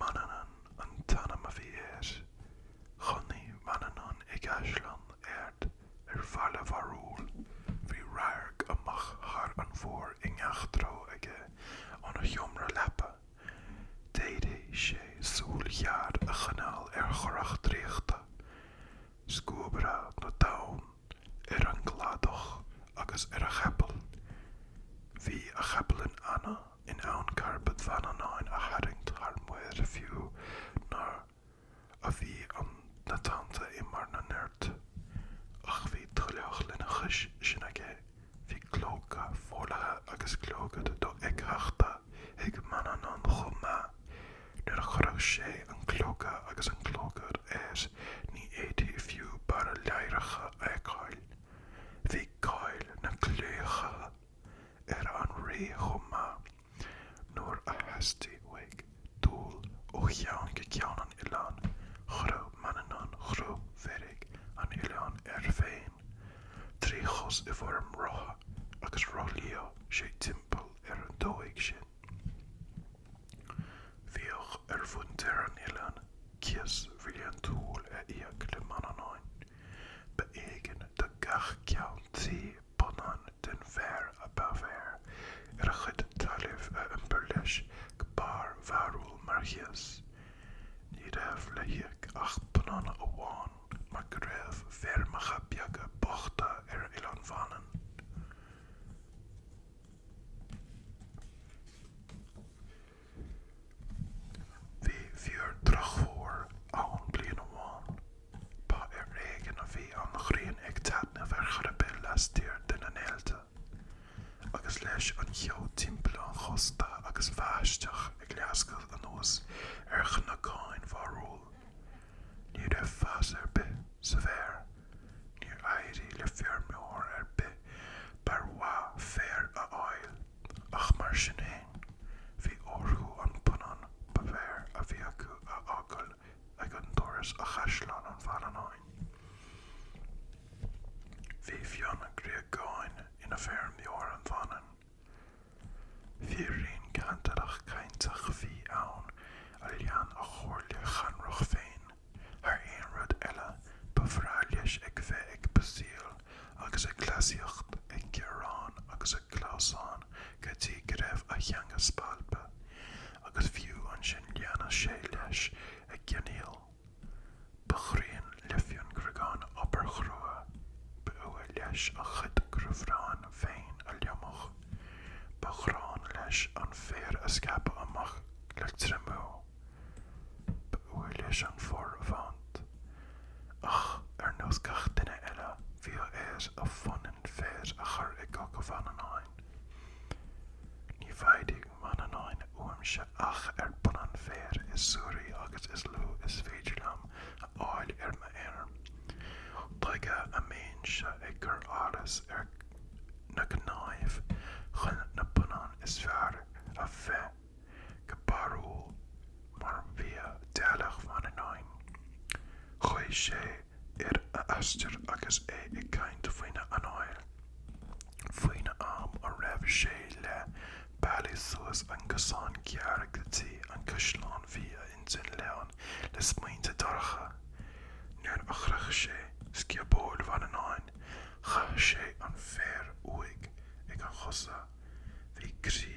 Manannán an t-ainm a bhí air. Chónaigh Manannán i gcaisleán ard ar bharr Bharúil. Bhí radharc amach thar an mhuir i ngach treo aige óna sheomra leapa. D'fhéadfadh sé súil ghéar a choinneáil ar a churach draíochta, Scuabaire na dTonn, ar an gcladach agus ar a chapall. Bhí a chapall in ann. in ann carbad Mhanannáin a tharraingt thar muir fiú nuair a bhí na tonnta i mbarr a nirt. Ach bhí tuilleadh lena chois sin aige, bhí clóca folaithe agus clogad dofheictheachta ag Manannán chomh maith. Nuair a chuirfeadh sé an clóca agus an clogad air ní fhéadfaí fiú barr a ladhracha a fheiceáil. Bhí cáil na gclaíocha ar an rí chomh maith nuair a theastaigh uaidh dul ó cheann go ceann an oileáin, chuireadh Manannán cruth mheirge an oileáin air féin trí chos i bhfoirm rotha agus rothlaíodh sé timpeall ar an dóigh sin. Bhíodh ar mhuintir an oileáin cíos bhliantúil a íoc le Manannán. Ba éigean do gach ceann tí punann den bhféar ab fhearr ar a chuid talaimh a iompar leis go barr Bharúil mar chíos. Ní raibh le híoc ach punann amháin mar go raibh feirmeacha beaga bochta ar Oileán Mhanann. Bhí fíor-dhrochfhómhar ann bliain amháin. Ba ar éigean a bhí an ghrian ag taitneamh ar chor ar bith lastiar de na néalta, agus leis an cheo timpeall an chósta agus báisteach ag lascadh anuas ar chnocáin Bharúil. Ní raibh fás ar bith sa bhféar. Níor éirigh le feirmeoir ar bith barr maith féir a fháil. ach mar sin fhéin, bhí orthu an punann ab fhearr a bhí acu a fhágáil ag an doras i gCaisleán Mhanannáin. Bhí Fionn Gríogáin ina fheirmeoir ar Mhanainn. Firín cantalach cainteach a bhí ann a lean a chomhairle chancrach féin. Thar aon rud eile, ba bhreá leis a bheith ag pusaíl agus ag cleasaíocht, ag gearán agus ag clamhsán go dtí go raibh a theanga spalptha, agus fiú ansin leanadh sé leis ag geonaíl. Ba ghráin le Fionn Gríogán obair chrua, ba fhuath leis a chuid grabhráin féin a lomadh, ba ghráin leis an féar a scaipeadh amach le triomú. Ba fhuath leis an féar a bhaint. Ach, ar nós gach duine eile, bhíodh air a phunann féir a chur i gcoca Mhanannáin. Ní bhfaighidh Manannán uaimse ach an phunann féir is suaraí agus is lú is féidir liom a fháil ar m'fheirm. Tuige a mbeinnse ag cur allas ar na cnáimh chun na punann is fearr a bhreith? go Barrúil mar bhíodh teaghlach Mhanannáin. Chuaigh sé ar a aistear agus é ag caint faoina anáil, faoin am a raibh sé leath bealaigh suas an cosán géar go dtí an caisleán bhí a intinn lán le smaointe dorcha. Nuair a shroich sé scioból Mhanannáin chaith sé an féar uaidh ag a chosa. Bhí croí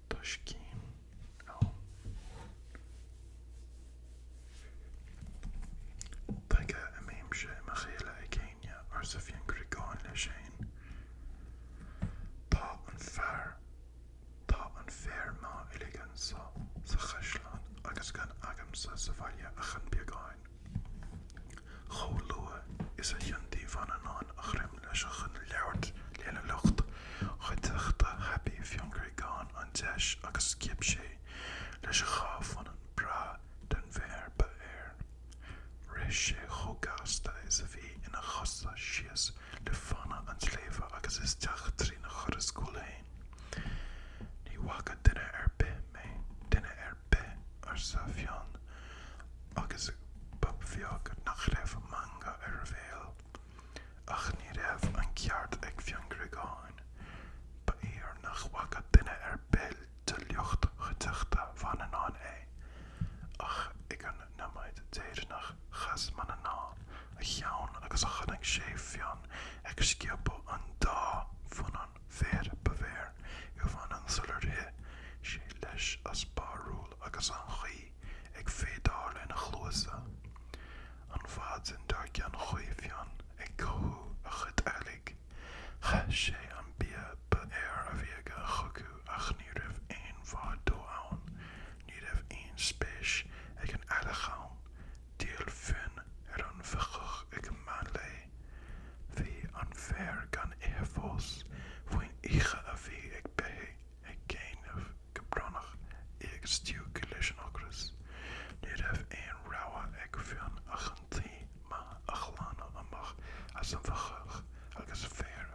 Tá scéim ann. Tuige a mbímse i mo chéile ag éinne, arsa Fionn Gríogán leis féin. Tá an fear, tá an féar breá uilig anso sa chaisleán agus gan agamsa sa bhaile ach an beagán. Chomh luath is a thiontaigh Manannán a dhroim leis chun labhairt lena lucht chuideachta thapaigh Fionn Gríogán an deis agus sciob sé leis a dhá phunann breá den fhéar ba fhearr. Rith sé chomh gasta is a bhí ina chosa síos le fánaidh an tsléibhe agus isteach trína dhoras cúil féin. Ní bhfaca duine ar bith mé, duine ar bith, arsa Fionn Agus ba bheag nach raibh meangadh ar a bhéal. Ach ní raibh an ceart ag Fionn Gríogán. Ba fhíor nach bhfaca duine ar bith de lucht chuideachta Mhanannáin é. Ach ag an noiméad deireanach chas Manannán a cheann agus chonaic sé Fionn ag sciobadh an dá phunann féir ba fhearr i Manainn sular rith sé leis as Barrúil agus an chaoi ag feadaíl lena chluasa. An mhaidin dár gcionn chuaigh Fionn ag cothú a chuid eallaigh. Chaith sé an bia ba fhearr a bhí aige chucu ach ní raibh aon mhaith dó ann. Ní raibh aon spéis ag an eallach ann. D'fhill Fionn ar an bhóitheach ag meán lae. Bhí an féar gan ithe fós. Faoin oíche bhí na beithígh ag géimneach go brónach is ag stiúgadh leis an ocras. Ní raibh aon rogha ag Fionn ach an tuí mhaith a ghlanadh amach as an bhóitheach agus féar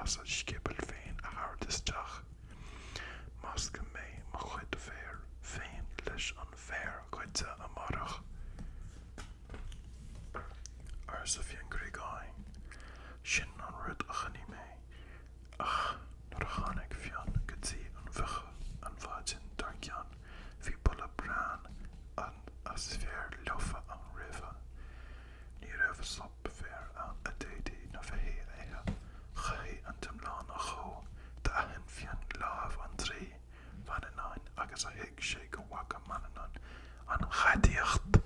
as a scioból féin a thabhairt isteach. Meascfaidh mé mo chuid féir féin leis an bhféar goidte amárach, arsa Fionn Criogáin. Sin an rud a dhéanfaidh mé Ach nuair a tháinig Fionn go dtí an bhóitheach an mhaidin dár gcionn bhí boladh bréan as féar lofa ann roimhe. Ní raibh sop féir ann a d'fhéadfadh na beithígh a ithe. Chaithfí an t-iomlán a dhó. D'aithin Fionn lámh an draoi Mhanannáin agus thuig sé go bhfaca Manannán an ghadaíocht.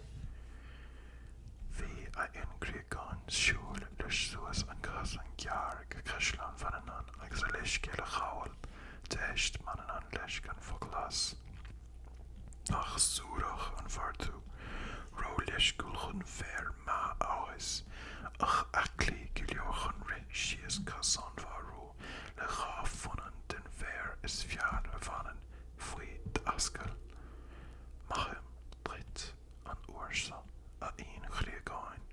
Bhí ar Fhionn Criogáin siúl leis suas an casán géar go caisleán Mhanannán agus a leithscéal a ghabháil. D'éist Manannán leis gan focal as. Nach suarach an fear tú, róleisciúil chun féar maith a fhás, ach aclaí go leor chun rith síos casán Bharúil. le dhá phunann den bhféar is fearr ar Mhanainn faoi d'ascaill. Maithim duit an uair seo, a Fhionn Chriogáin,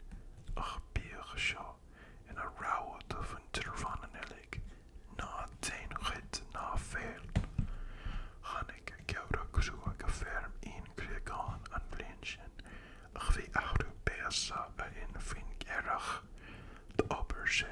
ach bíodh seo ina rabhadh do mhuintir Mhanann uilig, ná déan goid ná feall. Tháinig geimhreadh crua go feirm Fhionn Chriogáin an bhliain sin ach bhí athrú béasa ar Fhionn faoin earrach. D'obair sé